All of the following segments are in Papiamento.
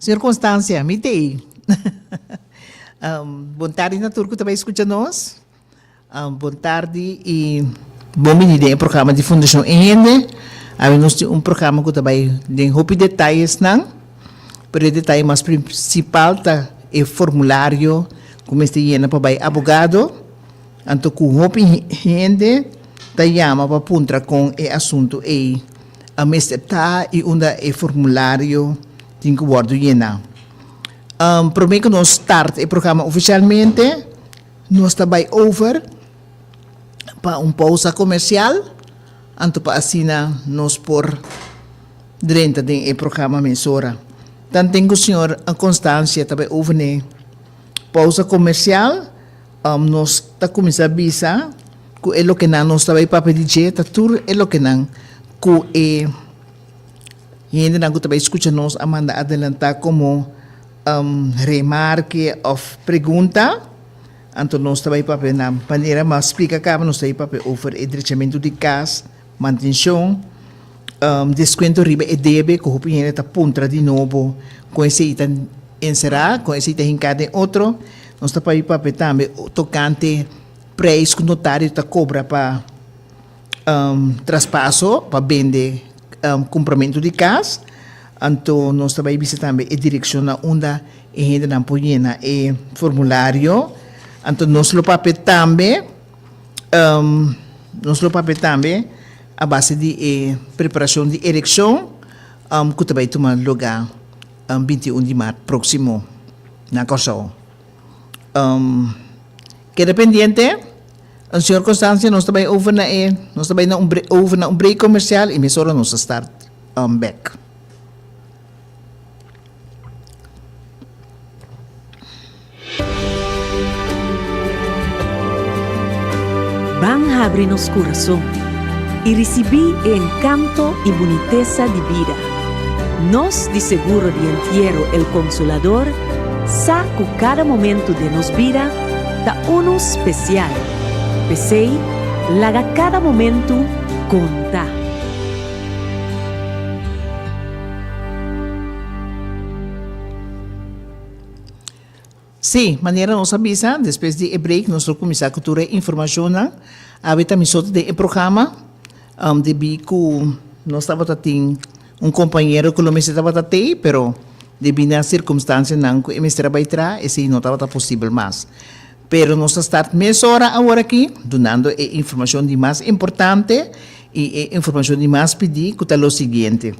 Circunstancia, mi t'ei. Bon tardi na tur cu ta bay scucha nos. Bon tardi y bon bini den e programa di Fundacion Eende. Awe nos tin un programa cu ta bay den hopi detayesnan, pero e detaye mas principal ta e formulario cu mester yena pa bay abogado, anto cu hopi hende ta yama pa puntra con e asunto ei. A mester ta i unda e formulario tin ku wòrdu yena. Promé ku nos start e programa ofisialmente, nos ta bai over pa un pousa komersial, anto pa asina nos por drenta den e programa mesora. Tanten ku señor Constancia ta bai over n'e pousa komersial. Nos ta kuminsá bisa ku e lokenan nos ta bai pa pedí dje ta tur e lokenan ku e hendenan ku ta bai skucha nos a manda adelantá komo remarke òf pregunta. Anto nos ta bai papia na manera mas splika kaba nos ta bai papia over e drechamentu di kas. Mantenshon, deskuento riba e debe ku hopi hende ta puntra di nobo kon esei ta enserá, kon esei ta hinká den otro. Nos ta papia papia tambe tokante preis ku notario ta kobra pa traspaso, pa bende kompramentu di kas. Anto nos ta bai bisa tambe e direkshonnan unda e hendenan por yena e formulario. Anto nos lo papia tambe. nos lo papia tambe a base di e preparashon di elekshon ku ta bai tuma lugá binti i un di mart próksimo na Kòrsou. Keda pendiente, un sirkunstansia nos ta bai over na e, nos ta bai over na un break komersial i mesora nos ta start bèk. Ban habri nos kurason i risibí e enkanto i bunitesa di bida. Nos di Seguro di Entiero El Consolador sa ku kada momentu den nos bida ta unu spesial. P'esei, laga kada momentu konta! Sí, manera nos a bisa, despues di e break nos lo kuminsá ku tur e informashonnan. Awe ta misote den e programa, um, debí ku nos tabata tin un kompañero ku lo mester tabata tei, pero debí na sirkumstansianan ku e mester a bai traha, esei no tabata posibel mas. Pero nos ta start mesora aworakí dunando e informashon di mas importante i e informashon di mas pidí ku ta lo siguiente,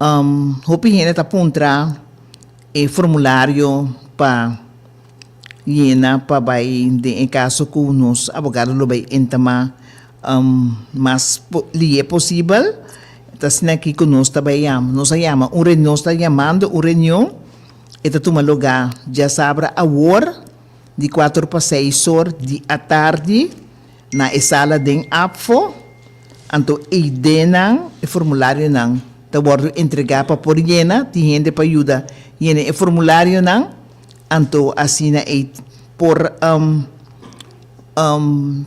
um hopi hende ta puntra e formulario pa yena pa bai den e kaso ku nos abogado lo bai entama um mas lié posibel, ta asina akí ku nos ta bai yama, nos a yama un nos ta yamando un reunion. E ta tuma lugá djasabra awor di kuater pa seis or di atardi na e sala den Apfo, anto eidenan e formularionan ta wòrdu entregá pa por yena, tin hende pa yuda yena e formularionan, anto asina ei por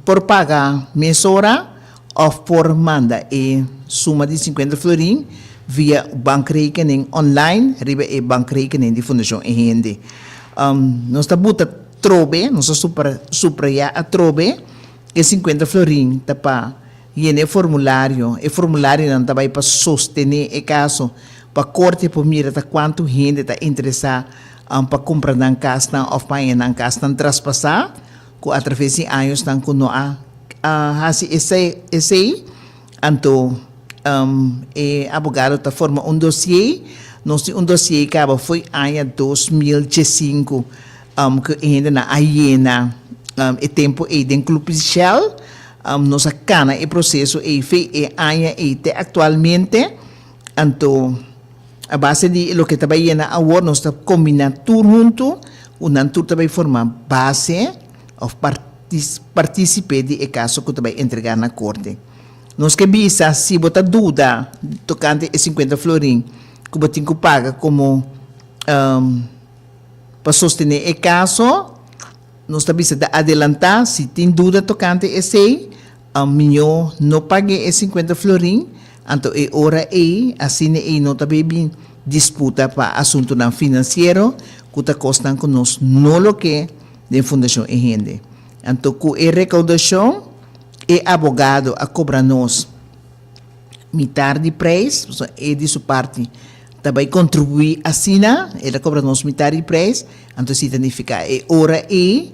por paga mesora. Òf por manda e suma di sinkuenta florin via bankrekening online riba e bankrekening di Fundashon E Hende. Nos ta buta trobe, nos ta suprayá atrobe, e sinkuenta florin ta pa yena e formulario. E formularionan ta bai pa sostené e kaso pa korte por mira ta kuantu hende ta interesá pa kumpra nan kasnan òf pa haña nan kasnan traspasá. Cu atraves di añosnan cu no a haci esey, anto e abogado ta forma un dosié. Nos tin un dosié caba fo'i aña dos mil diesinco, cu e hendenan a yena e tempo ey den club Shell. Nos a cana e proceso ey fe'i e aña ey te actualmente. Anto, a base di loke ta bai yena awor, nos ta kombiná tur huntu ku nan tur ta bai forma base òf partisipé di e kaso ku ta bai entregá na korte. Nos ke bisa si bo ta duda tokante e sinkuenta florin ku bo tin ku paga komo pa sostené e kaso, nos ta bisa ta adelantá si tin duda tokante esei, A miño no pag'é e sinkuenta florin, anto e ora ei asina ei no ta bay bin disputa pa asuntunan finansiero ku ta kosnan ku nos no lo ke den fundashon e hende. Anto ku e rekaudashon e abogado a kobra nos mitar di preis, pasobra e di su parti ta bay kontribuí asina, el a kobra nos mitar di preis, anto esei ta nifiká e ora ei,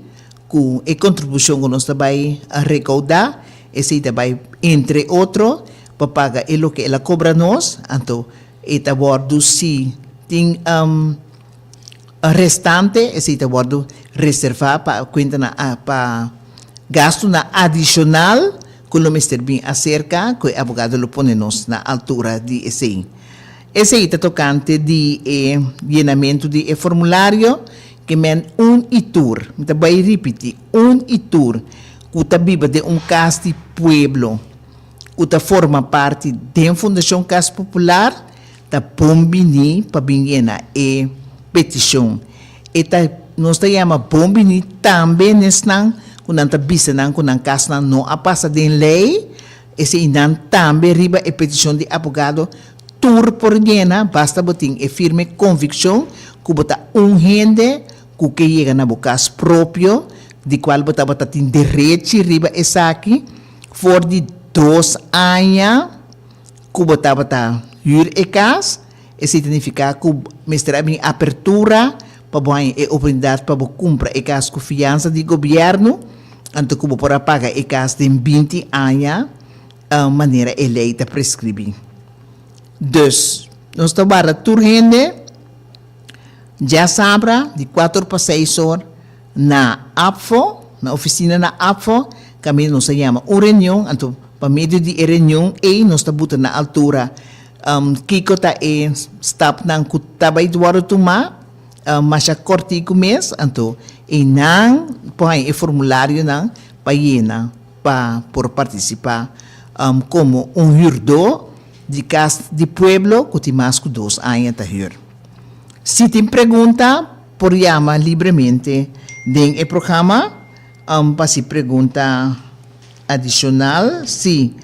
Cu e contribucion cu nos ta bay a recauda, esey ta bay, entre otro, pa paga e loke el a cobra nos, anto e ta wordo, si tin restante, esey ta wordo reserva pa cuentanan pa gastunan adicional cu lo mester bin acerca cu e abogado lo pone nos na altura di esey. Esei ta tokante di e yenamentu di e formulario ke men un i tur, mi ta bai ripiti, un i tur, ku ta biba den un kas di pueblo ku ta forma parti den Fundashon Kas Popular ta bon bini pa bin yena e petishon. E ta nos ta yama bon bini tambe nesnan ku nan ta bisa nan ku nan kasnan no a pasa den lei, Eseinan tambe riba e peticion di abogado tur por yena basta bo tin e firme conviccion cu bo ta un hende cu ke yega na bo cas propio di cual bo tabata tin derechi riba esaki for di dos aña cu bo tabata huur e cas. Esei ta nifiká ku mester a bin apertura pa bo haña e oportunidat pa bo kumpra e kas ku fiansa di gobièrnu anto ku bo por a paga e kas den binti aña manera e lei ta preskribí. Dus, nos ta warda tur hende djasabra di kuater pa seis or na APFO, na ofisina na APFO, kaminda nos a yama un reunion, anto pa medio di e reunion ei nos ta butra na altura. Kiko ta e stapnan ku ta bai wòrdu tumá? Masha kòrtiku mes, anto einan por haña e formularionan pa yena pa por partisipá komo un hürdó di kas di pueblo ku tin mas ku dos aña ta hür. Si tin pregunta, por yama libremente den e programa pa si pregunta. Adicional, si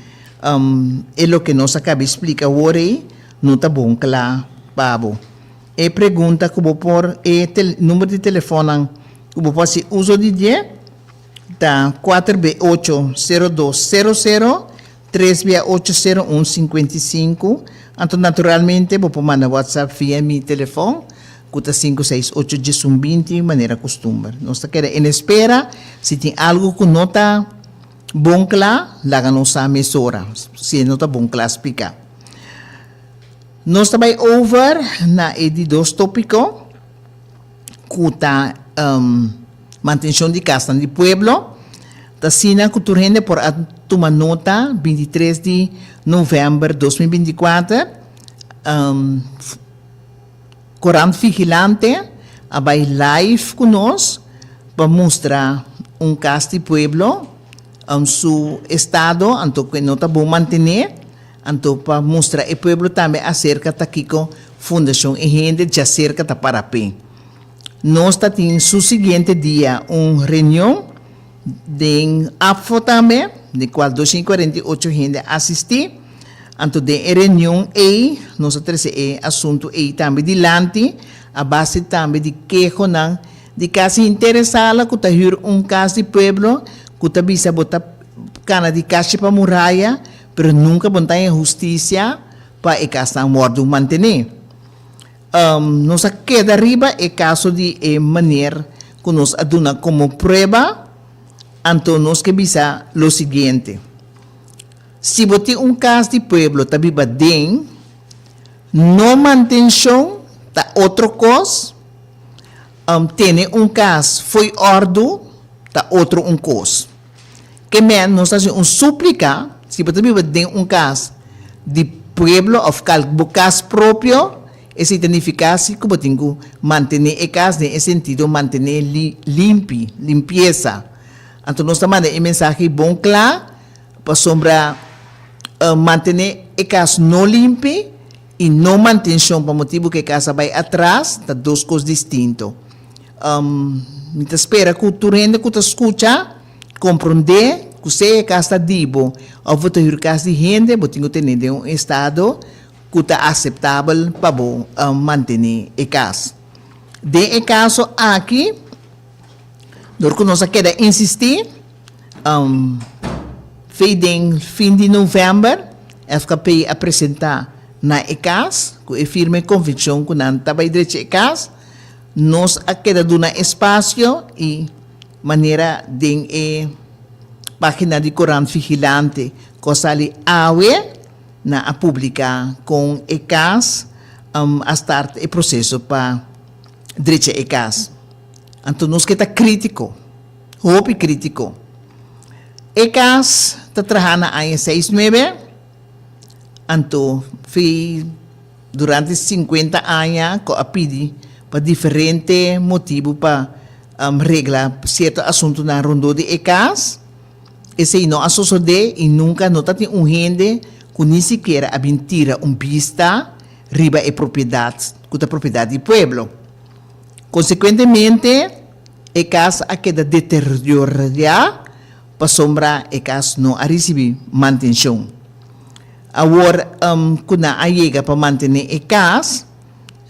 e loke nos a caba di splica awor ey no ta bon cla pa bo, e pregunta cu bo por e number di telefonnan cu bo por haci uzo di dje ta cuater be ocho cero dos cero cero tres be a ocho cero un cincuenta y cinco, anto naturalmente bo por manda WhatsApp via mi telefon Cu ta sinku, seis, ocho dje sun binti, manera custumber. Nos ta keda en espera. Si tin algo cu no ta bon cla, laga nos sa mesora. Si e no ta bon cla splica. Nos ta bay over na e di dos topico cu ta Mantencion di Casnan di Pueblo. Ta sina cu tur hende por a tuma nota binti tres di November dos mil binti cuater. Korant Vigilante a bai live ku nos pa mustra un kas di pueblo on su estado anto ku e no ta bon mantené, anto pa mustra e pueblo tambe aserka ta kiko Fundashon E Hende dja serka ta para p'e. Nos ta tin su siguiente dia un reunion. Den Apfo tambe, di cual dosciento y cuarenta y ocho hende a asisti. Anto den e reunion ey nos a trece e asunto ey tambe dilanti a base tambe di kehonan di casa hintere sala cu ta huur un cas di pueblo cu ta bisa bo ta cana di cashi pa muraya pero nunca bo no ta haya husticia pa e casnan wordo mantene. Nos a keda riba e kaso di e maner ku nos a duna komo prueba, anto nos ke bisa lo siguiente, Si bo tin un kas di pueblo ta biba den, no mantenshon ta otro kos, tene un kas fo'i òrdu ta otro un kos. Ke men nos hasi un súplika, si bo ta biba den un kas di pueblo òf kal bo kas propio, esei ta nifiká si ku bo tin ku mantené e kas den e sentido mantené li limpi, limpiesa. Anto nos ta manda e mensahe bon kla pasobra mantené e kas no limpi, I no mantenshon pa motibu ku e kasa bai atras ta dos kos distinto. Mi ta spera ku tur hende ku ta skucha komprondé ku sea e kas ta di bo òf bo ta hür kas di hende, bo tin ku tene den un estado ku ta aseptabel pa bo mantené e kas. Den e kaso aki dor ku nos a keda insistí. Fe den fin di novèmber FKP a presentá na e kas ku e firme konvenshon ku nan ta bai drechi e kas. Nos a keda duna espasio i manera den e página di Korant Vigilante ku a sali awe nan a publiká kon e kas a start e proseso pa drecha e kas. Anto nos ke ta krítiko. Hopi kritiko. E kas ta traha na aña seis nuebe, anto fi durante sinkuenta aña ku a pidi pa diferente motibu pa regla sierto asuntunan rondó di e kas. Esei no a sosodé i nunka no tatin un hende ku ni sikiera a bin tira un bista riba e propiedat ku ta propiedat di pueblo. Konsekuentemente. E cas a keda deteriorá pasobra e cas no a ricibi mantencion. Awor cu nan a yega pa mantene e cas,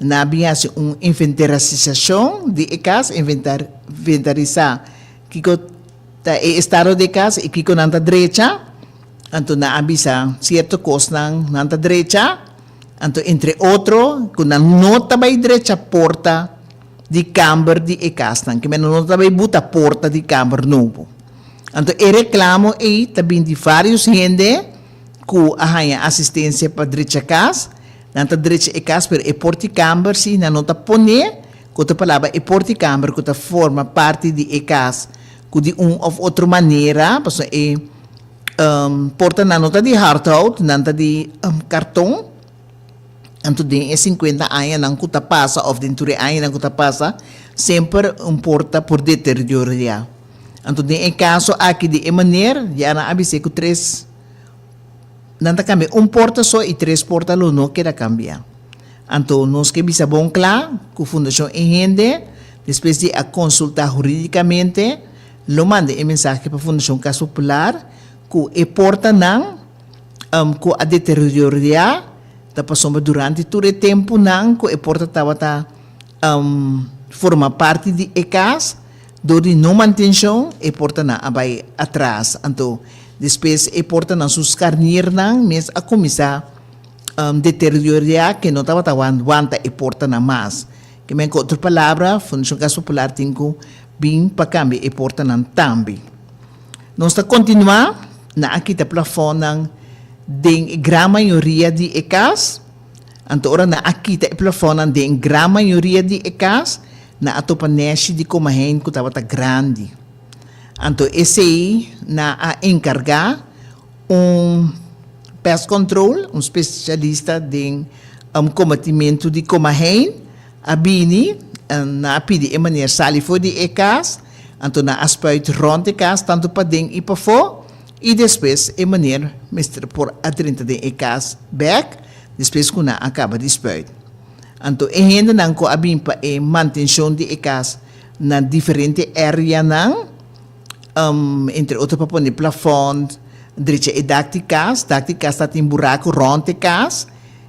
nan a bin haci un inventarasisacion di e cas, inventarisá kico ta e estado di e cas y kico nan ta drecha, anto nan a bisa cierto cosnan nan ta drecha, anto entre otro cu nan no ta bay drecha por ta. di kamber di e kasnan, ke menda no ta tabata buta porta di kamber nobo. Anto e reklamo ei ta bin di vários hende ku a haña asistensia pa drecha kas. Nan ta drecha e kas pero e portikamber si nan no ta pon'é, ku otro palabra e portikamber ku ta forma parti di e kas ku di un òf otro manera, pasobra e portanan no ta di hardhout, nan ta di karton. Anto den e sinkuenta añanan ku ta pasa òf den tur e añanan ku ta pasa, semper un por ta por deterioriá. Anto den e kaso aki di e maner, ya nan a bis'é ku tres nan ta kambia un porta so i tres porta lo no keda kambia. Anto nos ke bisa bon kla ku Fundashon E Hende, despues di a konsultá hurídikamente, lo manda e mensahe pa Fundashon Kas Popular ku e portanan, ku a deterioriá ta pasobra durante tur e tempunan ku e porta tabata forma parti di e kas, dor di no mantenshon e portanan a bai atras. Anto despues e portanan su skarniernan mes a kuminsá deterioriá ke no tabata wanta e portanan mas. Kimin ku otro palabra Fundashon Kas Popular tin ku bin pa kambia e portanan tambe. Nos ta kontinuá na a kita plafónan den e gran mayoria di e kas. Anto ora nan a kita e plafónan den e gran mayoria di e kas, nan a topa nèshi di komahein ku tabata grandi. Anto esei nan a enkargá un pest control, un spesialista den kombatimentu di komahein, a bini, nan a pidi e manier sali for di e kas. Anto nan a spuit rond e kas tantu paden i pafó i despues e maner mester por adrenta den e kas bèk despues ku nan a kaba di spuit. Anto e hendenan ku a bin pa e mantenshon di e kas na diferente èreanan, entre otro pa pone plafond, drecha e dak di kas, dak di kas ta tin buraku rond e kas,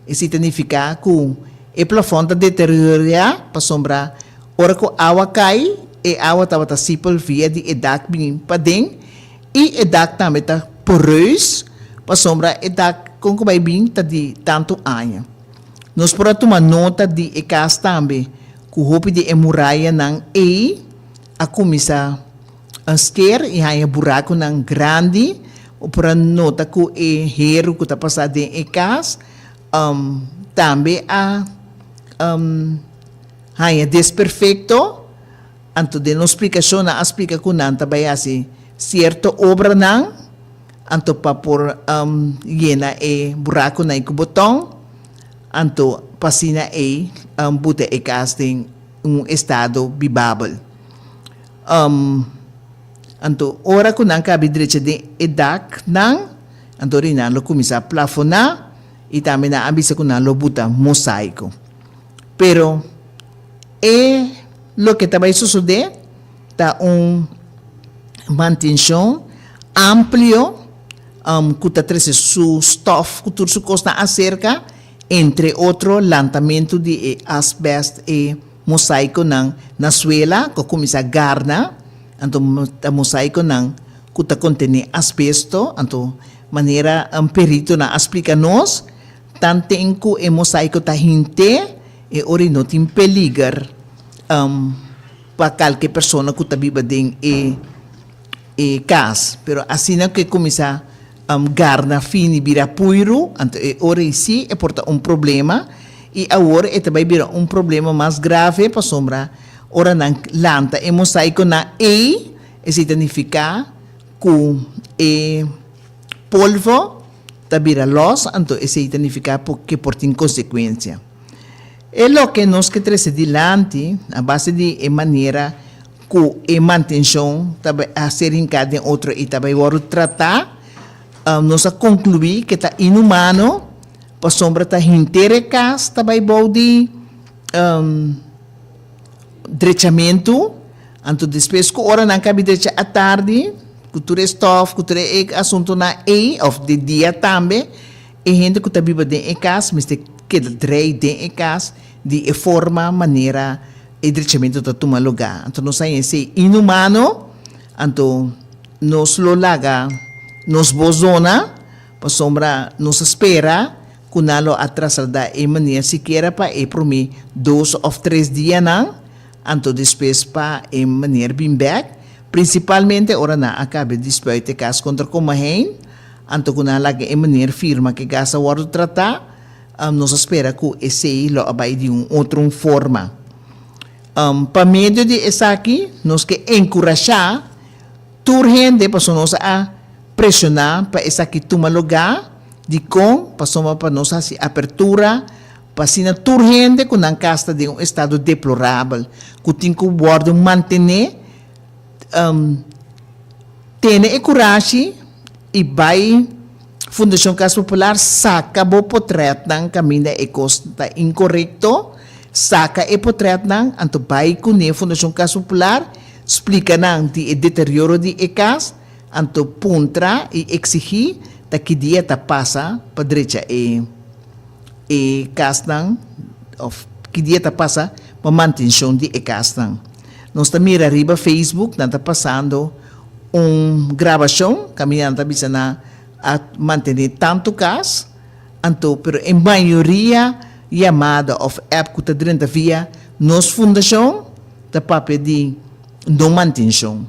Esei ta nifiká ku e plafon ta deteriorá pasobra ora ku awa kai, e awa tabata sipel via di e dak bini paden i e dak tambe ta poreus pasobra e dak kon ku bai bin ta di tantu aña. Nos por a tuma nota di e kas tambe ku hopi di e murayanan ei. a kuminsá hanster i haña burakunan grandi. Bo por a nota ku e heru ku ta pasá den e kas tambe a haña desperfekto. Anto den nos splikashon nan a splika ku nan ta bai hasi sierto obranan anto pa por yena e burakunan ei ku bo tòn anto pa asina ei buta e kas den. un estado bibabel. Anto ora ku nan kabi drecha den e daknan, anto ri nan lo kuminsá plafoná i tambe nan a bisa ku nan lo buta mosaiko. Pero e loke ta bai sosodé ta un mantenshon amplio ku ta trese su stòf ku tur su kosnan aserka. Entre otro lantamentu di e asbest e mosaikonan na suela ku a kuminsá garna, anto ta mosaikonan ku ta kontené asbesto, anto manera un peritonan a splika nos, tanten ku e mosaiko ta hint'é e ora i no tin peliger pa kalke persona ku ta biba den e e cas, pero asina cu e cuminsa garna fin y bira puiru, anto e ora eysi e por ta un problema y awor e ta bay bira un problema mas grave pasobra ora nan lanta e mosaiconan ey esey ta nifica cu e polvo ta bira los, anto esey ta nifica cu por tin consecuencia. E loke nos ke trece dilanti a base di e manera. cu e mantencion ta bay a ser hinca den otro y ta bay worde trata, nos a conclui que ta inhumano pasobra ta henter e cas ta bay bou di drechamentu, anto despues cu ora nan cabi drecha atardi cu tur e stof, cu tur e asuntonan ey, of di dia tambe, e hende cu ta biba den e cas mester keda drei den e cas. Di e forma manera e drechamentu ta tuma lugá, anto nos a hesei inhumano, anto nos lo laga nos bos dona, pasobra nos a spera ku nan lo a trasladá e mania sikiera pa e promé dos òf tres dianan, anto despues pa e manera bin bèk, prinsipalmente ora nan a kabe di spuit e kas kontra Komaheen, anto ku nan laga e manera firma ku e gas a wòrdu tratá. Nos a spera cu esey lo a bay di un otro un forma. Pa medio di esaki nos ke encurasha tur hende pasobra nos a presiona pa esaki tuma lugá. Dicon? Pasobra pa nos haci apertura pa asina tur hende cu nan cas ta den un estado deplorabel cu tin cu wordo mantene. tene e kurashi i bai Fundashon Kas Popular saka bo potrètnan kaminda e kos ta inkorekto, saka e potrètnan, anto bai kuné Fundashon Kas Popular, splika nan di e deterioro di e kas, anto puntra i eksigí ta ki dia ta pasa pa drecha e. e kasnan of ki dia ta pasa pa mantenshon di e kasnan. Nos ta mira riba Facebook nan ta pasando un grabashon kaminda nan ta bisa nan a mantené tantu kas, anto pero e mayoria yamada of app ku ta drenta via nos fundashon ta papia di. No mantenshon.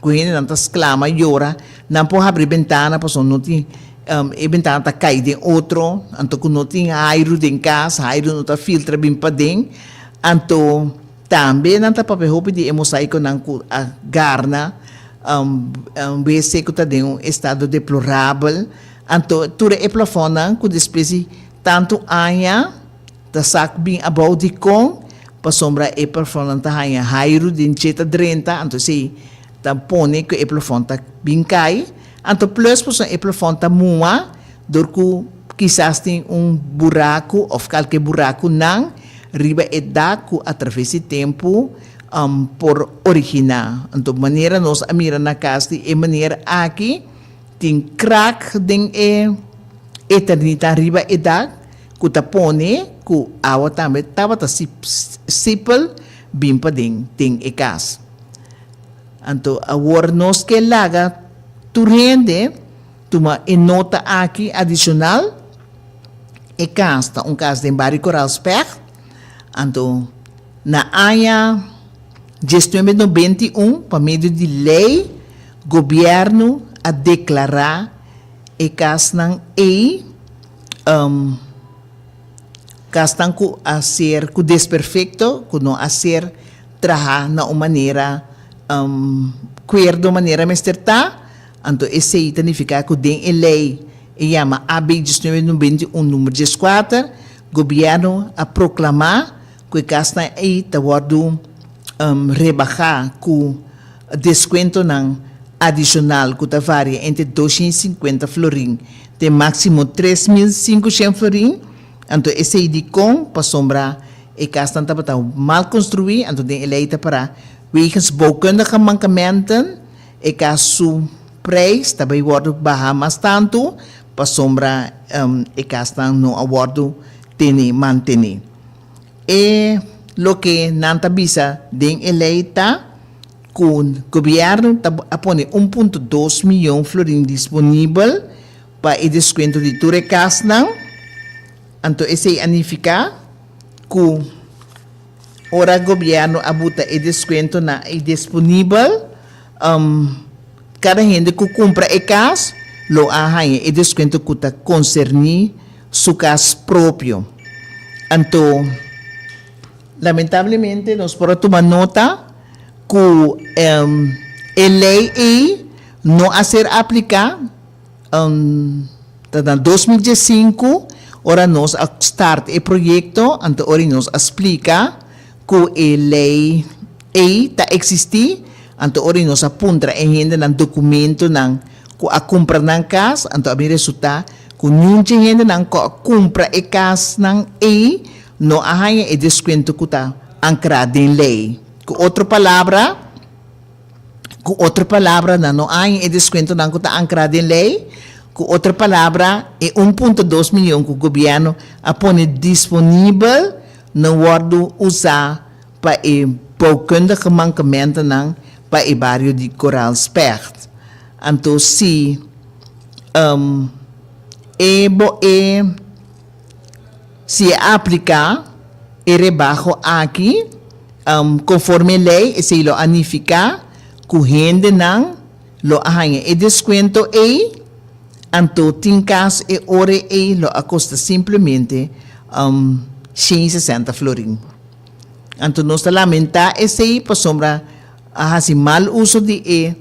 Ku hendenan ta sklama i yora, nan por habri bentana pasobra no tin, e bentana ta kai den otro, anto ku no tin hairu den kas, hairu no ta filtra bin paden. Anto tambe nan ta papia hopi di e mosaikonan ku a garna, wc ku ta den un estado deplorabel, anto tur e plafònnan ku despues di tantu aña, Ta sak bin abou dikon pasobra e plafònnan ta haña hairu den djeta drenta, anto esei ta pone ku e plafòn ta bin kai. Anto plus pasobra e plafòn ta muha dor ku kisas tin un buraku òf kalke burakunan riba e dak ku atraves di tempu por originá. Anto manera nos a mira na kas di e meneer aki tin krak den e eternita riba e dak. ku ta pone ku awa tambe tabata sipel bin paden den e kas. Anto awor nos ke laga tur hende tuma e nota aki adisional, E kas ta un kas den Bario Koraalspèg, anto na aña dies nuebe nobenta i un pa medio di lei gobièrnu a deklará e kasnan ei, Kasnan ku a ser ku desperfekto, ku no a ser trahá na un manera kuerdo manera mester ta, anto esei ta nifiká ku den e lei e yama AB diecinueve nobenta i un, numer dieskuater, Gobièrnu a proklamá, Ku e kasnan ei ta wòrdu rebahá ku deskuentonan adishonal ku ta varia entre doshen i sinkuenta florin te máksimo tres mil sinkoshen florin, anto esei dikon? Pasobra e kasnan tabata mal konstruí, anto den e lei ta pará, Wegens bouwkundige mankementn, e kas su preis ta bai wòrdu bahá mas tantu, pasobra e kasnan no a wòrdu tené, mantené. E loke nan ta bisa den e lei ta ku gobièrnu ta a pone un punto dos miyon florin disponibel pa e deskuento di tur e kasnan. Anto esei a nifiká ku ora gobièrnu a buta e deskuentonan ei disponibel, kada hende ku kumpra e kas lo a haña e deskuento ku ta konserní. su cas propio. Anto, lamentablemente nos por a tuma nota cu e ley ey no a ser aplica, ta na dos mil diescinco ora nos a start e proyecto, anto ori nos a splica cu e ley. Ey ta existi, anto ora di nos a puntra e hendenan documentonan cu a cumpra nan cas, anto a bin resulta cu niunchi hendenan cu a cumpra e casnan ey no a haya e descuento cu ta ancra den ley. Cu otro palabra, cu otro palabra nan no a haya e descuentonan cu ta ancra den ley, cu otro palabra e un punto dos million cu gobierno a pone disponibel no wordo usa pa e boukundige mankementenan pa e bario di Koraalspercht. Anto si um e bo e si e apliká e rebaho aki um konforme e lei, esei lo a nifiká ku hendenan lo a haña e deskuento ei, anto tin kas e ora ei lo a kosta simplemente um shen i sesenta florin. Anto nos ta lamentá esei pasobra a hasi mal uso di e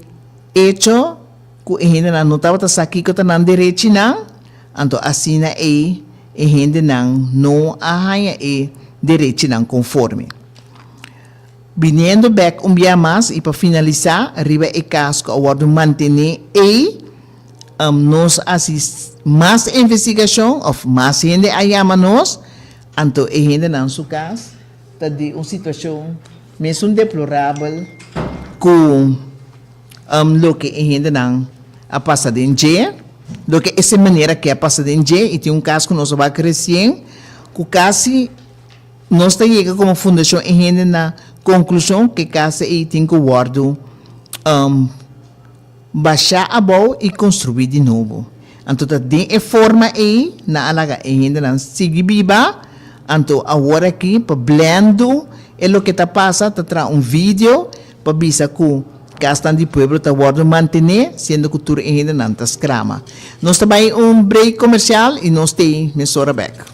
echo ku e hendenan no tabata sa kiko ta nan derechinan, anto asina ei e hendenan no a haña e derechinan konforme. Biniendo bèk un bia mas i pa finalisá riba e kas ku a wòrdu mantené ei, nos a hasi mas envestigashon òf mas hende a yama nos, Anto e hendenan su cas ta di un situacion mesun deplorabel cu loke e hendenan a pasa den dje, loke esei manera ke a pasa den dje y tin un cas cu nos a wak recien cu casi nos ta yega como fundacion e hende na conclusion ke cas ei tin cu wordo Basha abou i konstruí di nobo. Anto ta den e forma ei nan a laga e hendenan sigui biba. Anto awor aki pa blèndu e loke ta pasa ta traha un video pa bisa ku kasnan di pueblo ta wòrdu mantené siendo ku tur e hendenan ta skrama. Nos ta bai un break komersial i nos t'ei mesora bèk.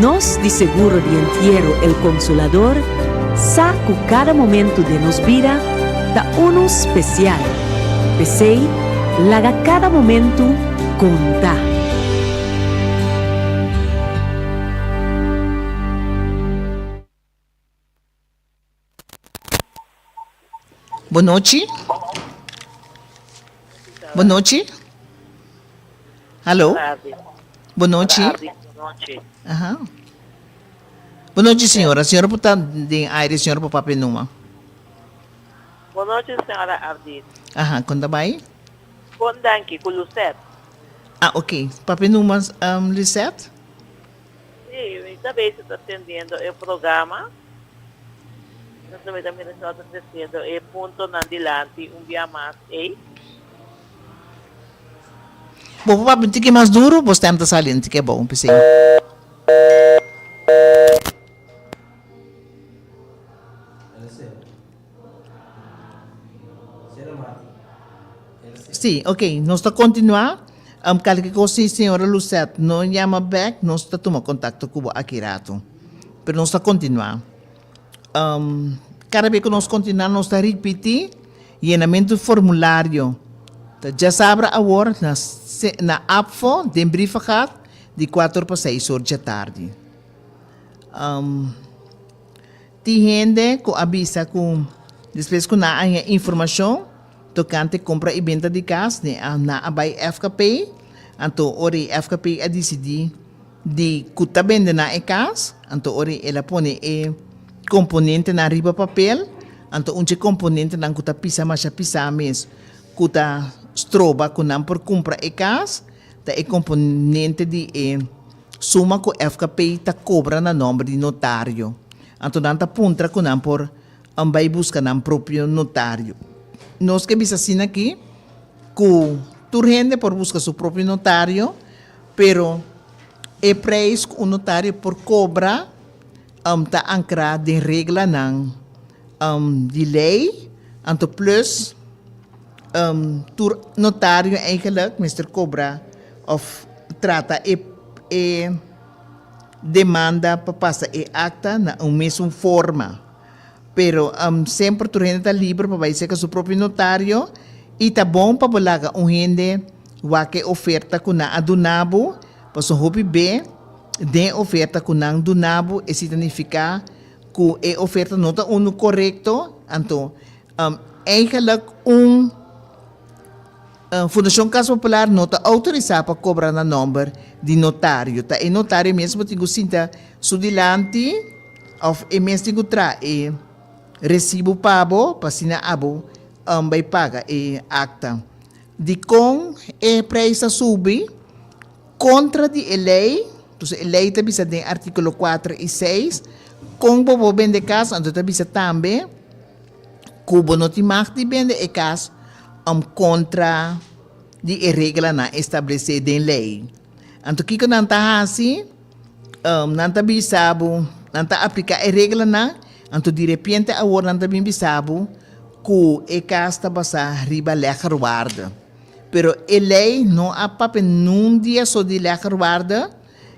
Nos di Seguro di Entiero El Consolador sa cu cada momento den nos bida ta unu special, p'esey laga cada momento conta. Bonochi? Bonochi? Hallo? Bonochi? Aha. Bonochi señora, señora por ta den aire, señora por papia numa. Bonochi señora Ardit. Aha, con ta bay? Bon danki, cu Lucet. Ah, ok. Papia numa, um, Lisette? Sí, mi ta bese ta tendiendo e programa. No ta beta mira si ta creciendo e puntonan dilanti un bia mas ey. Bo por papia tiki mas duro, bo stem ta sali un tiki abou, p'esei. Sí, ok, nos ta continua. Um, calke cos si señora Lucet no llama bek, nos ta tuma contacto cu bo aki rato. Pero nos ta continua. Um, cada be cu nos continua nos ta ripiti llenamento e formulario. Ta dja sabra awor na se-, na apfo den Brievengaat di cuater pa seis or dje tardi. Um. Tin hende ku a bisa ku despues ku nan a haña informashon tokante kompra i benta di kas ne nan a bai FKP, anto ora e FKP a disidí di ku ta bende nan e kas, anto ora el a pone e komponentenan riba papel, anto un dje komponentenan ku ta pisa masha pisá mes ku ta stroba ku nan por kumpra e kas ta e komponente di e suma ku FKP ta kobra na nòmber di notario, anto nan ta puntra ku nan por a bai buska nan propio notario. Nos ke bisa asina aki ku tur hende por buska su propio notario, pero e preis ku un notario por kobra ta ankrá den reglanan di lei, anto plus, Tur notario eigenlijk mester kobra òf trata e demanda pa pasa e akta na un mesun forma. Pero semper tur hende ta liber pa bai serka su propio notario i ta bon pa bo laga un hende wak e oferta ku nan a duna bo, pasobra hopi be den e oferta ku nan duna bo e signifiká ku e oferta no ta unu korekto, anto Eigenlik un Fundashon Kas Popular no ta outorisá pa kobra na nòmber di notario. Ta e notario mes ku bo tin ku sinta su dilanti òf e mes tin ku traha e resibu pa bo pa asina abo bai paga e akta. Dikon e preis ta subi? Kontra di e lei, dus e lei ta bisa den artíkulo kuater i seis kon bo por bende kas anto ta bisa tambe ku bo no tin magt di bende e kas òm kontra di e reglanan establesé den lei. Anto kiko nan ta hasi? Nan ta bisa bo, nan ta apliká e reglanan, anto direpiente awor nan ta bin bisa bo ku e kas ta basá riba lègerwaarde. Pero e lei no a papia niun dia so di lègerwaarde,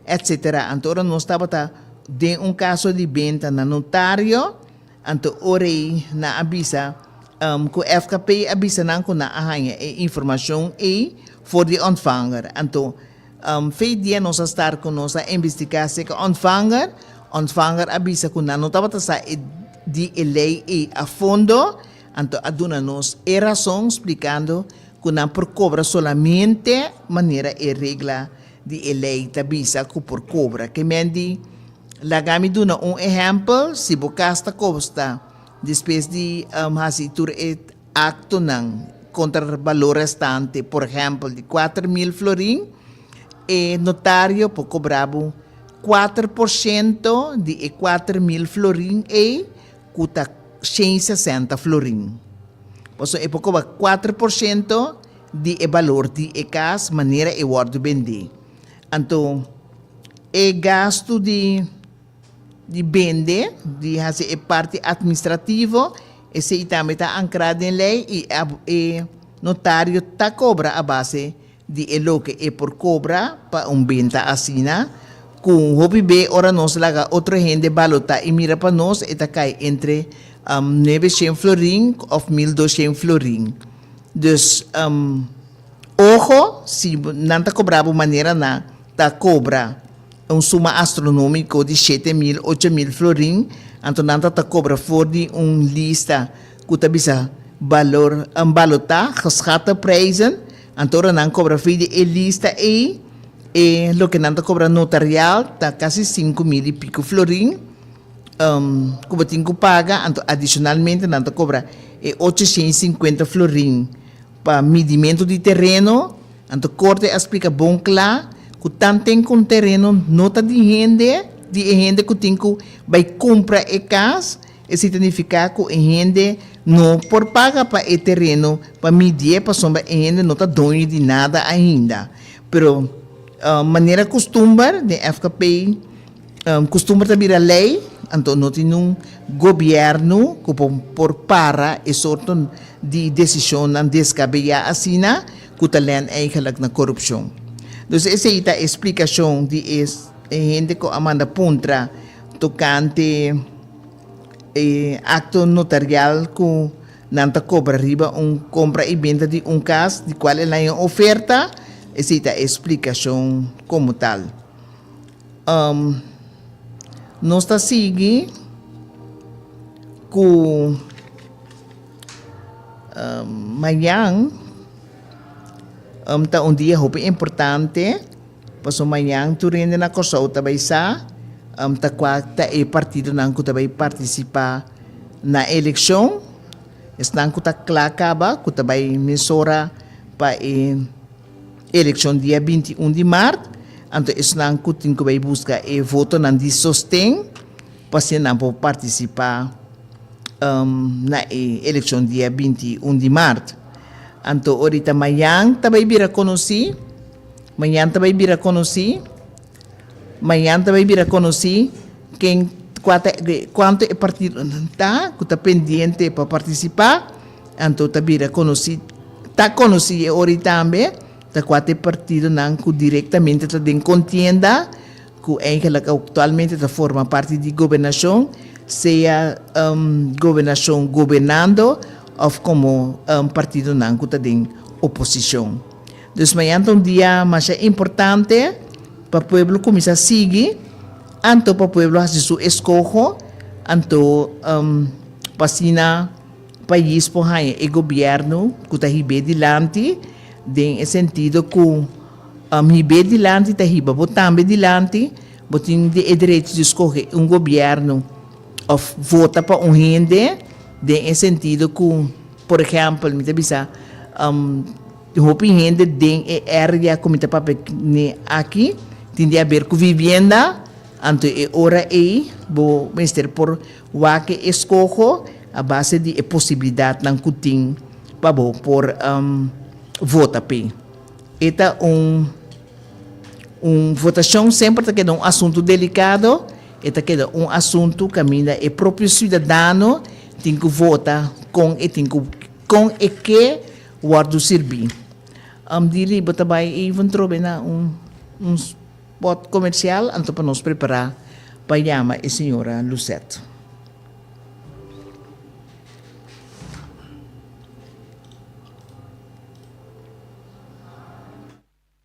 etsetera. Anto ora nos tabata den un kaso di benta na notario, Anto O'Reilly na a bisa um cu FKP a bisa nan cu nan a haña e informacion ey for di ontvanger. Anto um vijf dia nos a star cu nos a investiga acerca ontvanger. Ontvanger a bisa cu nan no tabata sa e di e ley ey a fondo, anto a duna nos e razon splicando cu nan por cobra solamente manera e regla di e ley ta bisa cu por cobra, kemen di Laga mi duna un ehèmpel, si bo kas ta kosta, despues di hasi tur e aktonan kontra balor restante, por ehèmpel di kuater mil florin, e notario por kobrá bo kuater por shento di e kuater mil florin ei ku ta shen i sesenta florin. Pasobra e por kobra kuater por shento di e balor di e kas manera e wòrdu bendé. Anto, e gastu di di bende, di hasi e parti atministrativo, esei tambe ta ankrá den lei i ab e notario ta kobra a base di e loke e por kobra pa un benta asina ku hopi be ora nos laga otro hende balotá i mira pa nos e ta kai entre nueve shen florin òf mil dos shen florin. Dus. Oho, si nan ta cobra bo manera na ta cobra un suma astronomico di shete mil, ocho mil florin, anto nan ta ta cobra for di un lista cu ta bisa Valor, Balota, Geschatte Prijzen, anto ora nan cobra fey di e lista ey, e loke nan ta cobra notarial ta casi cinco mil y pico florin, um, cu bo tin cu paga, anto adicionalmente nan ta cobra e ocho shen y cincuenta florin. Pa midimentu di tereno, anto Korte a splika bon kla ku tanten ku un tereno no ta di hende, di e hende ku tin ku bai kumpra e kas, e signifika ku e hende no por paga pa e tereno pa midié pasobra e hende no ta doño di nada ainda. Pero manera kustumber den FKP, Kustumber ta bira lei, anto no tin un gobièrnu ku por para e sorto di desishonnan desgabeyá asina ku ta lèn eigelik na korupshon. Dus esei ta e splikashon di e hende ku a manda puntra tokante e akto notarial ku nan ta kobra riba un kompra i benta di un kas di kual el a haña oferta, esei ta e splikashon komo tal. Nos ta sigui ku mañan ta un dia hopi importante pasobra mañan tur hende na Kòrsou ta bai sa ta kua ta e partidonan ku ta bai partisipá na e elekshon, esnan ku ta kla kaba ku ta bai mesora pa e. Elekshon dia binti un di mart, anto esnan ku tin ku bai buska e votonan di sosten pa si nan por partisipá na e elekshon dia binti i un di mart. Anto ora i ta mañan ta bai bira konosí, mañan ta bai bira konosí. Mañan ta bay bira conoci ken cua ta e cuanto e partidonan ta cu ta pendiente pa participa, anto ta bira conoci, ta conoci e ora y tambe ta cua ta e partidonan cu directamente ta den contienda cu eigenlijk actualmente ta forma parti di gobernacion, sea gobernacion gobernando of como partidonan cu ta den oposicion. Dus mañan ta un dia masha importante pa pueblo cuminsa sigui anto pa pueblo haci su escoho anto pa asina pais por haña e gobierno cu ta hib'é dilanti den e sentido cu hib'é dilanti ta hiba bo tambe dilanti bo tin e derecho di scoge un gobierno of vota pa un hende den e sentido cu por ehempel mi ta bisa. Tin hopi hende den e area ku mi ta papia ne aki tin di haber ku vivienda, anto e ora ei bo mester por wak e skoho a base di e posibilidatnan ku tin pa bo por vota p'e. E ta un un votashon semper ta keda un asuntu delikado, e ta keda un asuntu kaminda e propio siudadano tin ku vota kon e tin ku kon e ke. Wordu sirbí. Am di riba ta bai even trobe na un un spot comercial anto pa nos prepará pa yama e señora Lucette.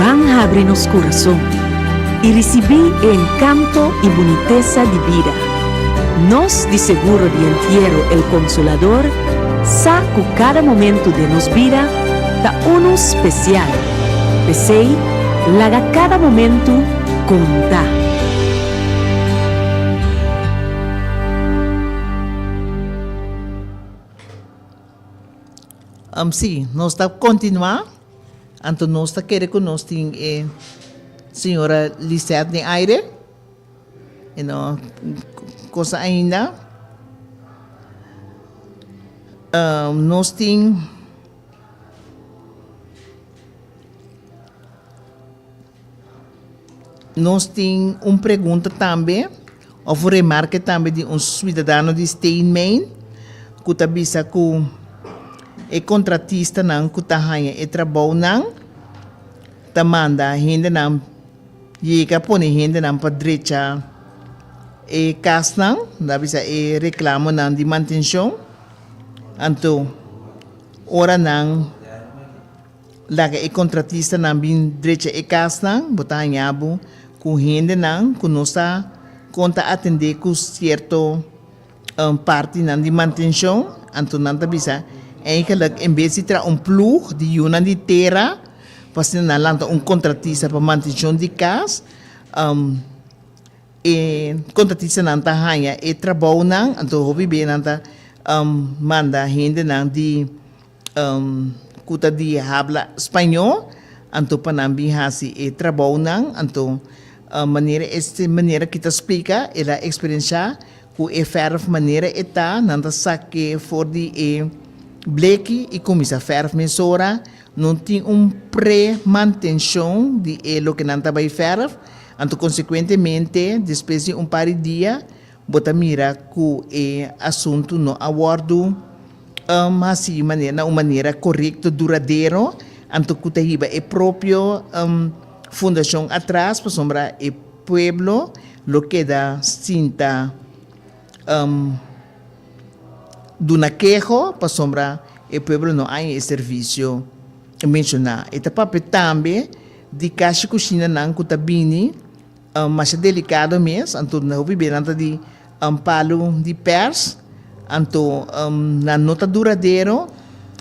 Ban habri nos kurason i risibí e enkanto i bunitesa di bida. Nos di Seguro di Entiero El Consolador sa ku kada momentu den nos bida ta unu spesial, p'esei laga kada momentu konta. Am si, nos ta kontinuá, anto nos ta kere ku nos tin e señora Lisette den aire, e no kosa ainda. nos tin Nos tin un pregunta tambe of un remarke tambe di un suidadano di Staying Maine ku ta bisa ku e kontratistanan ku ta haña e trabounan ta manda hendenan yega pone hendenan pa drecha e kasnan, lo a bisa e reklamonan di mantenshon. Anto ora nan. Laga e kontratistanan bin drecha e kasnan, bo ta hañá bo ku hendenan ku no sa kon ta atendé ku sierto partinan di mantenshon. Anto nan ta bisa, Eindelijk, en bes di traha un plug di yunan di tera pa asina nan lanta un kontratista pa mantenshon di kas, e kontratistanan ta haña e trabounan. Anto hopi bes nan ta manda hendenan di. ku ta di habla spañó, anto pa nan bin hasi e trabounan. Anto, manera este manera ki ta splika, el a eksperensiá ku e fèrf manera e ta, nan ta sak'é for di e bleki i kuminsá fèrf mesora. No tin un pre-mantenshon di e loke nan ta bai fèrf, anto konsekuentemente despues di un par di dia, Bo ta mira ku e asuntu no a wòrdu um hasi mane na un manera korekto duradero, anto ku ta hiba e propio um fundashon atras, pasobra e pueblo lo keda sinta um duna keho pasobra e pueblo no haña e servisio menshoná. E ta papia tambe di kashi kushinanan ku ta bini Masha delikado mes, anto nan hopi bira ta di palu di pers, anto nan no ta duradero,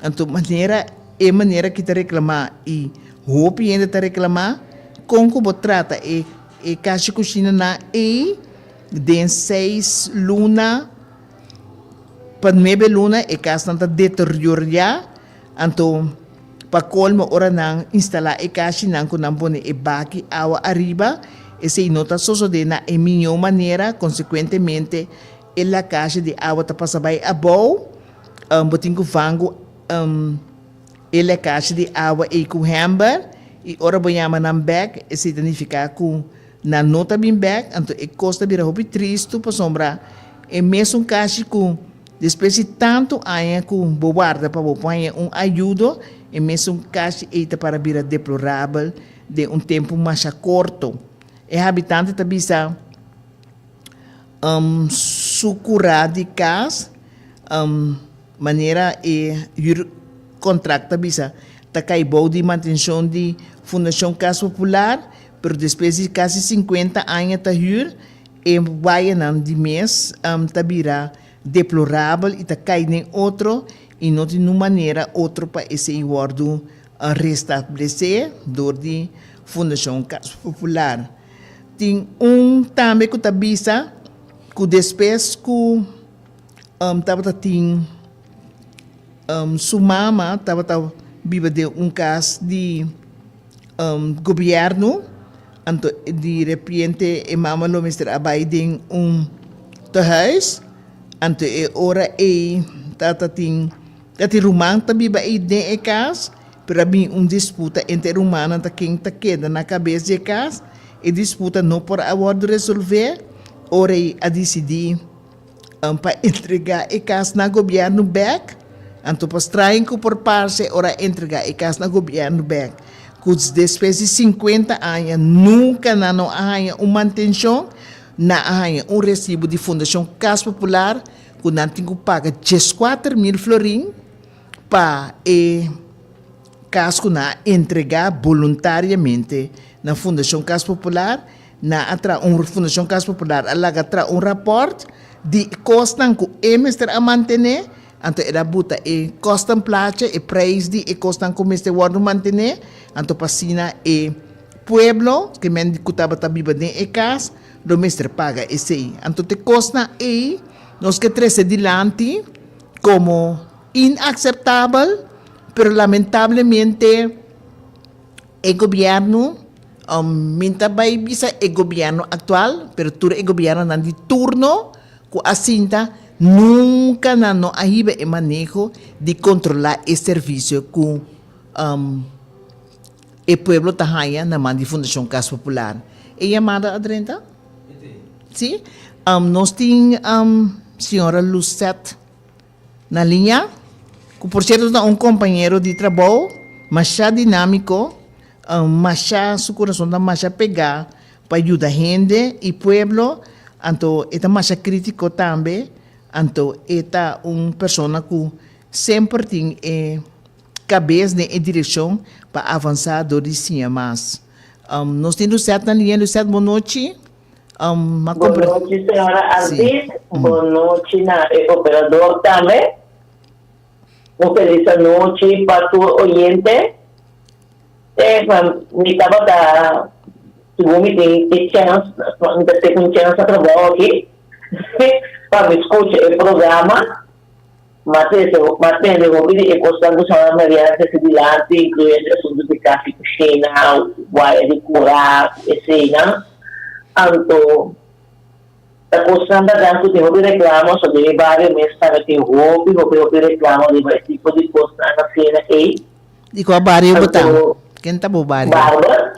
anto manera e manera ki ta reklama i hopi hende ta reklama, kon ku bo trata e e kashi kushina nan ei den seis luna pa nuebe luna e kasnan ta deterioriá. Anto, pa colmo ora nan instala e cashinan cu nan pone e baki awa ariba, esey no ta sosode na e miño manera, consecuentemente e lakashi di awa ta pasa bay abou, bo tin cu vangu e lakashi di awa ey cu hember y ora bo yama nan bek esey ta nifica cu nan no ta bin bek, anto e cos ta bira hopi tristu pasobra e mesun cashi cu Despues di tantu aña ku bo warda pa bo por haña un ayudo, e mesun kashi ei ta para bira deplorabel den un tempu masha korto. E habitante ta bisa su kurá di kas, manera e huurkontrakt ta bisa, ta kai bou di mantenshon di Fundashon Kas Popular, pero despues di kasi sinkuenta aña ta huur, E wayanan di mes ta bira deplorabel i ta kai den otro i no tin un manera otro pa esei wòrdu restablesé dor di Fundashon Kas Popular. Tin un tambe ku ta bisa ku despues ku tabata tin su mama tabata biba den un kas di. Gobierno, anto di repiente e mama lo mester a bai den un tehuis, anto e ora ey ta ta tin ta tin ruman ta biba ey den e cas, pero a bin un disputa entre e rumannan ta ken ta keda na cabes di e cas, e disputa no por a wordo resolve, ora ey a dicidi. An pa entregá e kas na gobièrnu bèk? Anto pa strain ku por parse ora a entregá e kas na gobièrnu bèk? Kuts despues di sinkuenta aña nunka nan no a haña un mantenshon, nan a haña un resibu di Fundashon Kas Popular ku nan tin ku paga dieskuater mil florin pa e kas ku nan a entregá boluntariamente na Fundashon Kas Popular. Nan a traha un, Fundacion Caso Popular a laga traha un raport di e cosnan cu e mester a mantene, anto e da buta e cosnan placha, e prijs di e cosnan cu mester wordo mantene, anto pa asina e pueblo, ke men cu tabata biba den e cas, lo mester paga esey. Anto te cosnan ey nos ke trece dilanti como inaceptabel, pero lamentablemente, E gobierno, mi ta bay bisa e gobierno actual, pero tur e gobiernonan di turno cu asinta nunca nan no a hiba e maneho di controla e servicio cu e pueblo ta haya na man di Fundacion Cas Popular. E yamada a drenta? Si. Nos tin Señora Lucette. Na liña, ku por sierto ta un kompañero di trabou masha dinámiko, masha su kurason ta masha pegá pa yuda hende i pueblo, anto e ta masha krítiko tambe, anto e ta un persona ku semper tin e kabes den e direkshon pa avansá dor di siña mas. Nos tin Lucette na liña, Lucette, bon nochi. Bon nochi señora Ardit, bon nochi na e operador tambe. Un felis anochi pa tur oyente. Mi tabata segun mi tin e chèns, mi ta tek un chèns na trabou aki pa mi skucha e programa. Matthew, Mas tende hopi di e kosnan ku Santa Maria a trese dilanti, inkluyendo e asuntu di kas i kushina, waya di kura ku eseinan, anto ta kosnan banan ku tin hopi reklamo, so den mi bario mes tambe tin hopi hopi hopi reklamo riba e tipo di kosnan asina ei. Di kua bario bo ta? Ken ta bo bario? Barbara,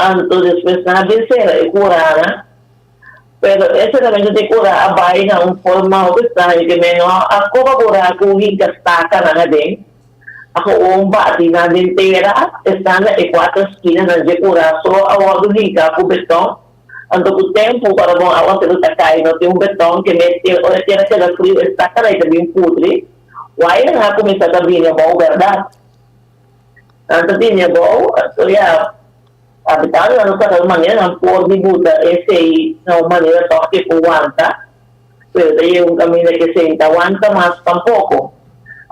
Anto despues nan a bin sera e kurara, pero e seramente di e kura a bai na un forma hopi straño ke men no a koba kura ku hinka stakanan aden, a gewoon bati nan den tera estanda e kuater skinanan dje kura so a wòrdu hinká ku beton, anto ku tempu ora bon aguaseru ta kai no tin un beton ke mes e ora e tera keda friu e stakanan ta bin pudri, waianan a kuminsá ta bini abou bèrdat. Anto di mi abou a storia habitado nan lo sa kal manera nan por di buta esei na un manera tok ke por wanta, pero ta yega un kaminda ke esei no ta wanta mas tampoko.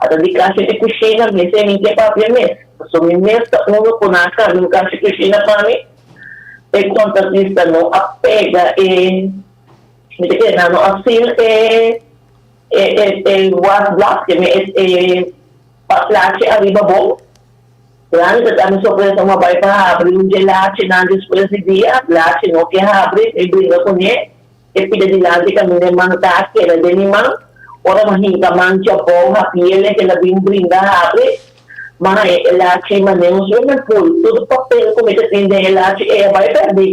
Ata di kashi di kushina mi esei mi ke papia mes, paso mi mes ta uno ku nan a kambia un kashi kushina pa mi. E kontratista no a pega e, mi ta kere nan no a seal e wasblad, ke mi e. Pa plachi ariba bo. Rani ta dami sorpresa ua bai pa habri un dje lachi nan despues di dia lachi no ke habri mi bringa kuné e pida dilanti kaminda e man ta keda den mi man ora mi a hinka man djabou hapiel e keda bin bringa habri maha e lachi mané un su mi pul tudu papel ku mi ta tin den e lachi e a bai perdi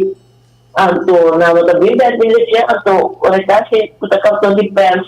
anto nan no ta bin bèt mi lech'é anto ora e kasi ku ta karton di pèrs.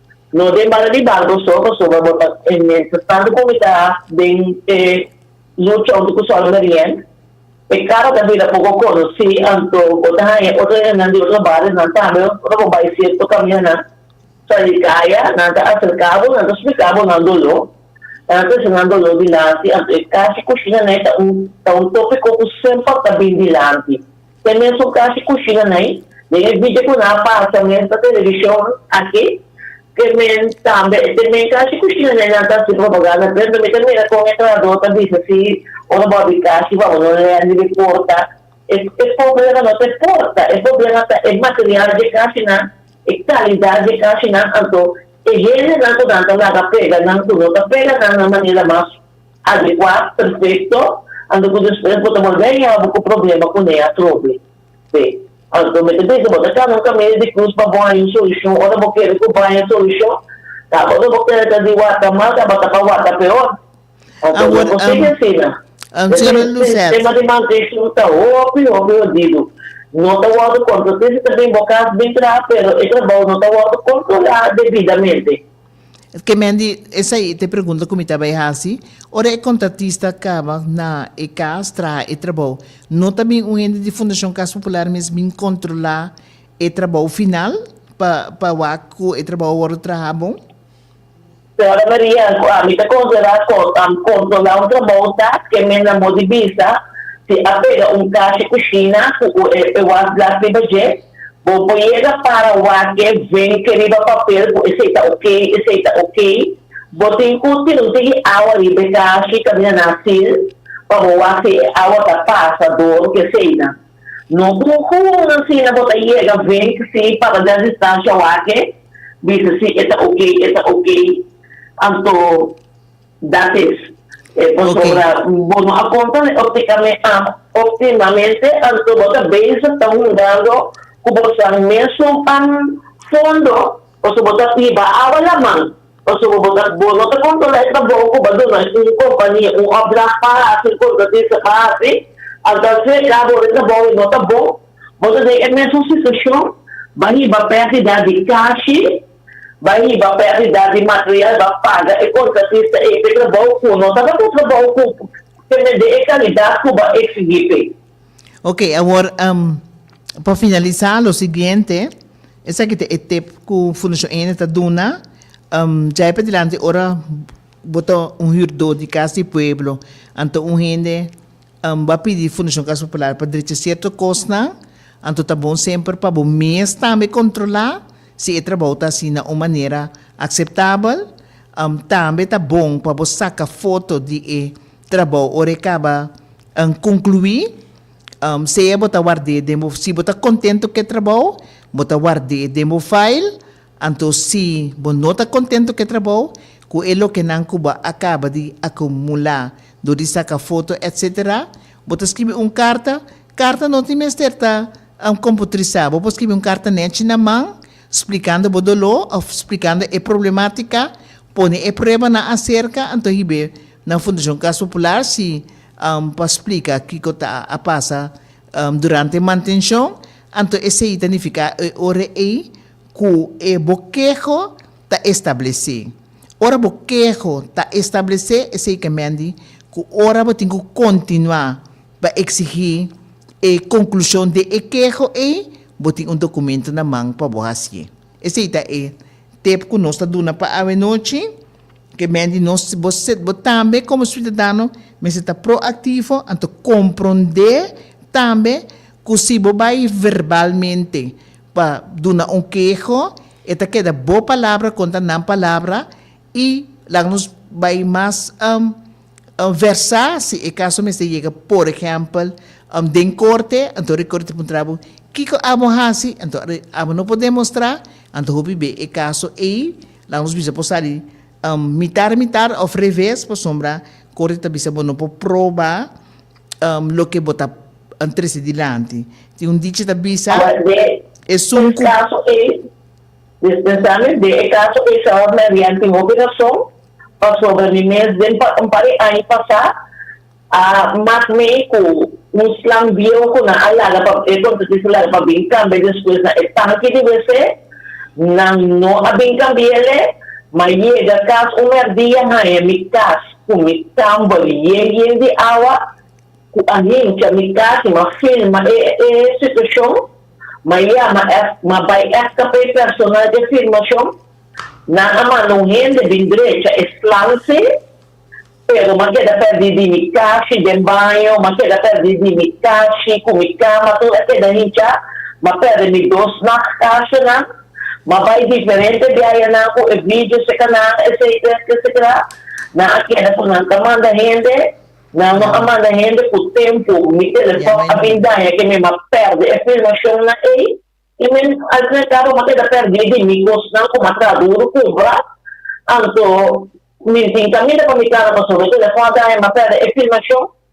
No den banda di banco so, pasobra bo ta e mester tantu cuminda den e lucha unto cu solo meriend. E caro ta bira poco conoci, anto bo ta haya otro hendenan di otro bario nan tambe. Ora bo bay cierto caminanan sa di caya, nan ta acerca bo, nan ta splica bo nan dolo, nan ta trece nan dolo dilanti. Anto e casi cu shina ney ta un, ta un topico cu semper ta bin dilanti. Te mesun kasi kushina nai. Den e vidio ku nan a pasa mes na televishon aki, ke men tambe te men kasi kushina nai nan ta hasi propaganda p'e. Mi ta mira kon e trabahadó ta bisa si, Ora bo a bin kasi, bo a wòrdu un lèn riba e porta. E problema no ta e porta, e problema ta e material dje kasinan, e kalidat dje kasinan. Anto e hendenan ku nan ta laga pega nan, ku no ta pega nan na manera mas. Adekua, perfekto, anto ku despues bo ta bolbé yama bo ku problema kuné atrobe. Be, anto mi ta bisa bo ta kamba un kamiño di krus pa bo haña un solushon ora bo kere ku bo haña un solushon? Tabata bo kere ta di wata mal tabata pa wata peor. Anto bo por sigui asina. Sistema di maldiksjon ta hopi hopi hodidu. No ta wòrdu kontrol. Tin si ta bin bo kas bin traha pero e trabou no ta wòrdu kontrolá debidamente. Ke men di esei ta e pregunta ku mi ta bai hasi. Ora e kontratista kaba na e kas traha e trabou, no ta bin un hende di Fundashon Kas Popular mes bin kontrolá e trabou final pa pa wak ku e trabou a wòrdu traha bon? Señora Maria, Mi ta konsiderá kontrolá un trabou ta ke men a mos di bisa si a pega un kashi kushina ku e was blas riba dje, Bo por yega para wake venke riba papel ku esei ta ok, esei ta ok. Bo tin ku tira un tigi awa riba e kashi kaminda na asil pa bo wak si e awa ta pasa dor ku eseina. No ku un hun asina bo ta yega venk si para den distansha wake bisa si e ta ok, e ta ok. Anto. Dat is. E pasobra bo no a konta me òf di ka me a òptimamente, anto bo ta bezig ta hungando ku bo san mesun pan fondo, pasobra bo ta biba awa laman, pasobra bo ta bo no ta kontrolá e trabou ku bo a duna un kompania un òpdrag pa hasi, un kontratista pa hasi, anto al fin e kabo ora e trabou e no ta bon, bo ta den e mesun situashon, bo a hiba pèrdida di kashi. Bai riba pa e abidat di material ba paga e kontratistas ei p'e trabou ku no tabata un trabou ku temende e kalidat ku ba eksigí p'e. Ok, awor pa finalisá lo siguiente, esaki ta e tip ku Fundashon Ene ta duna, djai p'adilanti ora bo ta un hürdó di Kas di Pueblo, anto un hende, Bo a pidi Fundashon Kas Popular pa drecha sierto kosnan, anto ta bon semper pa bo mes tambe kontrolá si e trabou ta hasi na un manera akseptabel. Tambe ta bon pa bo saka foto di e trabou ora e kaba konkluí. Sea bo ta ward'é den bo, si bo ta kontento ku e trabou, bo ta ward'é den bo file. Anto si bo no ta contento cu e trabao, cu e lokenan cu bo a caba di acumula dor di saca foto etc. Bo ta scribi un carta, carta no tin mester ta computerisá, bo por scribi un carta nechi na man, splicando bo doló of splicando e problematica, pone e pruebanan acerca, anto hib'é na Fundacion Cas Popular si pa splica kico ta a pasa durante mantencion, anto esei ta nificá e ora ei. Ku e bokeho ta establesé. Ora bokeho ta establesé esei ke mendi ku ora bo tin ku kontinuá pa eksigí e konklushon den e keho ei, bo tin un dokumentu na man pa bo hasié. Esei ta e tip ku nos ta duna pa awenochi, ke mendi nos, bo se, bo tambe komo siudadano mester ta proaktivo, anto komprondé tambe ku si bo bai verbalmente Pa duna un keho, e ta keda bo palabra kontra nan palabra, i laga nos bai mas versá si e kaso mester yega, por ehèmpel, den korte, anto e korte ta puntra bo, Kiko abo hasi? Anto are abo no por demostrá, anto hopi be e kaso ei, laga nos bisa por sali mitar mitar òf reves, pasobra korte ta bisa bo no por proba. Loke bo ta trece dilanti. Tin un dichi ta bisa, E sunku. Despensa mi, den e kaso ei sa Marian tin hopi rason, pasobra mi mes den un par di aña pasá a mak mei ku un slang biehu ku nan a laga pa e kontratista a laga pa bin kambia despues na e tanki di wc. Nan no a bin kambi'e lei, ma yega kas un merdía haña mi kas. ku mi tambo di yen yen di awa ku a hincha mi kasi m'a firma e e situashon, m'a yama m'a bai èpta pa e personal di afirmashon. Nan a manda un hende bin drecha e slanse, pero m'a keda pèrdí di mi kashi den baño, m'a keda pèrdí di mi kashi ku mi kama tur a keda hinchá, m'a pèrdè mi dos nacht kashinan. Ma pa e diferente biayanan ku e video se kanal eseitu es ke sekrá nan a keda ku nan ta manda hende, nan no a manda hende ku tempu mi telefòn a bin daña ke mi m'a pèrdè e filmashonnan ei i mi al fin al kabo m'a keda pèrdí di mi kosnan ku m'a tradudu kumpra anto mi tin kaminda pa mi kasa pasobra e telefòn a daña m'a pèrdè e filmashon.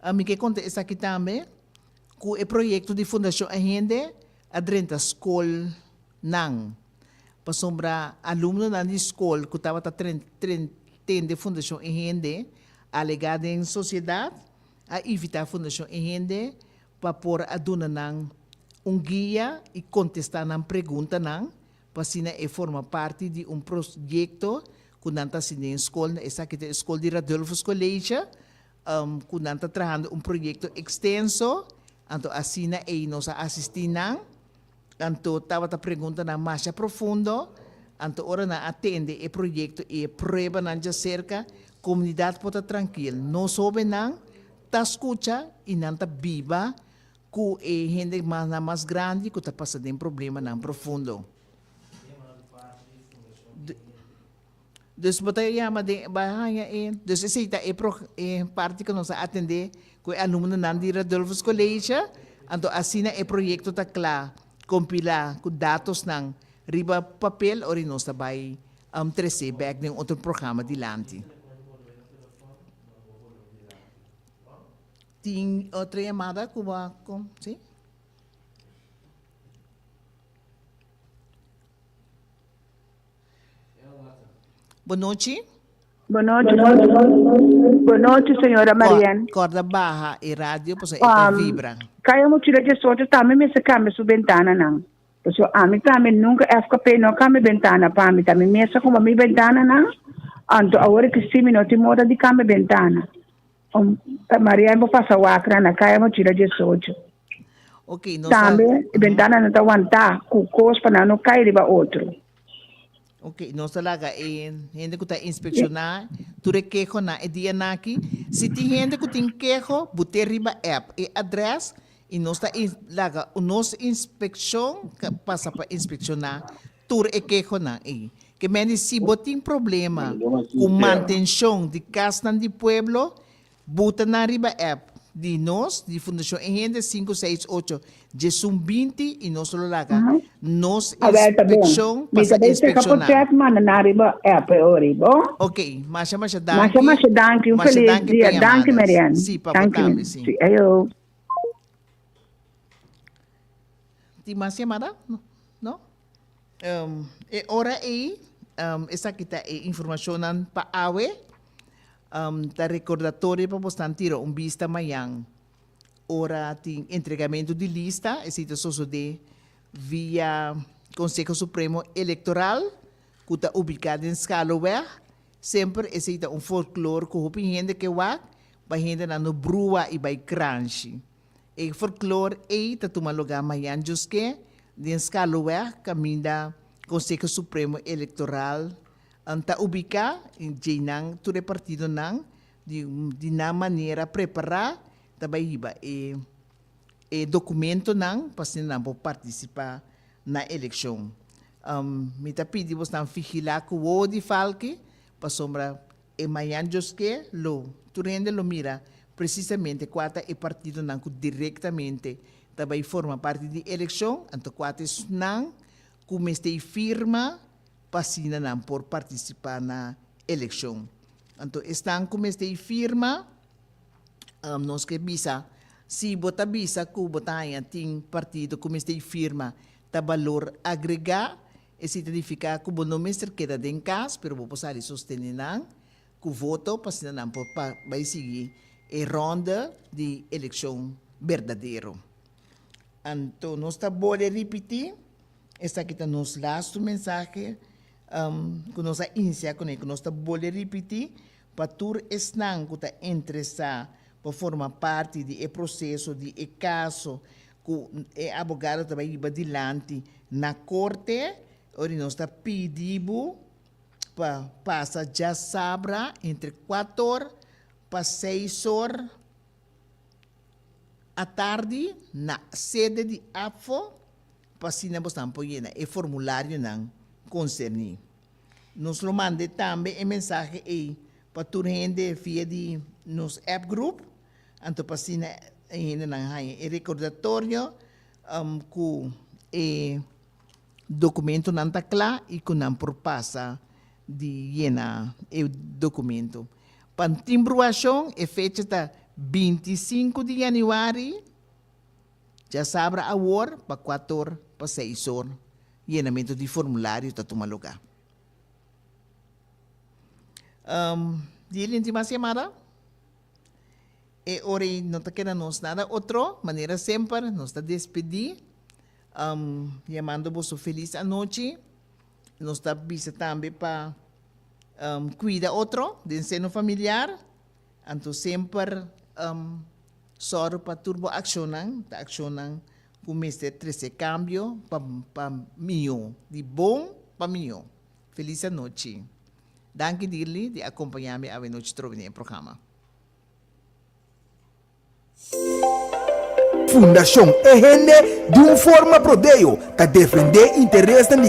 Ami ke konta esaki tambe, ku e proyekto di Fundashon Ahende a drenta skolnan, pasobra alumnonan di skol ku tabata tende Fundashon Ahende alegá den sosiedat, a invitá Fundashon Ahende pa por a duna nan un guia i kontestá nan preguntanan, pa asina e forma parti di un proyekto ku nan ta hasi den skol. Esaki ta e skol di Radulfus College, Cu nan ta trahando un proyecto extenso, anto asina ey nos a asisti nan, anto tabata preguntanan masha profundo, anto ora nan a tende e proyecto y e pruebanan dja cerca, comunidad por ta trankil, nos hobennan ta scucha y nan ta biba cu e hende mas nan mas grandi cu ta pasa den problemanan profundo. Dus bo ta yama den e bai haña e. Dus esei ta e pro e parti ku nos a atendé ku e alumnonan di Radulfus College, anto asina e proyekto ta kla, kompilá ku datosnan riba papel ora nos ta bai tres'é bèk den otro programa dilanti. Tin otro yamada ku bo a kon, si? Bo nochi. Bo nochi. Bo nochi señora Marién. Corda baha e radio pasobra e ta vibra. Kaya mochila di esocho tambe mester cambia su bentananan. Pasobra ami tambe nunca FKP no cambia bentana pa mi. Ta mi mes a comba mi bentananan. Anto awor e Christine mi no tin moda di cambia bentana. Con ta Maria e bo pasa water na caya bo chira diesocho. Okay, nos Tambe a... e ventananan ta wanta cu cos pa nan no cay riba otro. Okay, nos a laga e hende cu ta inspecciona tur e kehonan e dia naki. Si tin hende cu tin keho, bute riba app e adres y nos ta laga nos inspeccion pasa pa inspecciona Tur e kehonan ei. Ke mende si bo tin problema ku mantenshon di kasnan di pueblo, buta nan riba app di nos di Fundashon E Hende sinku seis ocho djesun binti i nos lo laga nos inspekshon pa sa inspekshon nan. Ok, masha masha danki. Masha danki pa yamadas. Si pa bo tambe si. Tin mas yamada? No? E ora ei, esaki ta e informashonnan pa awe, ta rekordatorio pa bos nan tira un bista mañan ora tin entregamentu di lista, esei ta sosodé via Konseho Supremo Elektoral ku ta ubiká den Schaloweg. Semper esei ta un folklor ku hopi hende ke wak, bai hendenan no brua i bai kranshi. E folklor ei ta tuma lugá mañan djoske den Schaluweg kaminda Konseho Supremo Elektoral N ta ubiká i djeinan tur e partidonan di nan manera prepará ta bai hiba e e dokumentonan pa asina nan por partisipá na elekshon. Mi ta pidi bosnan figilá ku wowo di falke pasobra E mañan djoske lo tur hende lo mira presisamente kua ta e partidonan ku direktamente ta bai forma parti di elekshon, anto kua ta esnan ku mester firma pa asina nan por partisipá na elekshon. Anto esnan ku mester firma, nos ke bisa si bo ta bisa ku bo ta haña tin partido ku mester firma ta balor agregá, E si ta nifiká ku bo no mester keda den kas, pero bo por sali sostene nan ku voto pa asina nan por pa bai sigui e rònde di elekshon berdadero. Anto nos ta bole ripití, esaki ta nos lastu mensahe ku nos a insiá kuné ku nos ta bole ripití pa tur esnan ku ta interesá pa forma parti di e proseso di e kaso ku e abogado ta bai riba dilanti na korte ori nos ta pidi bo pa pasa djasabra entre kuat or pa seis or atardi na sede di APFO pa asina bo tambe por yena e formularionan konserni. Nos lo manda tambe e mensahe ei pa tur hende via di nos app grup. Anto pa asina e hendenan haña e rekordatorio ku e dokumentunan ta kla i ku nan por pasa di yena e dokumentu. Pa timbruashon e fecha ta binti i sinku di yanüari, djasabra awor pa kuator pa seis or yenamentu di formulario ta tuma lugá. Di e lenti mas yamada. E ora ei no ta keda nos nada otro manera semper nos ta despedí yamando boso felis anochi. Nos ta bisa tambe pa kuida otro den seno familiar, anto semper sòru pa tur bo akshonnan ta akshonnan ku mester trese kambio pa mihó, di bon pa mihó. Feliz anochi. Danki Dirly di acompaña mi awenochi trobe n'e programa. Fundacion E Hende di un forma Prodeo ta defende interesnan di.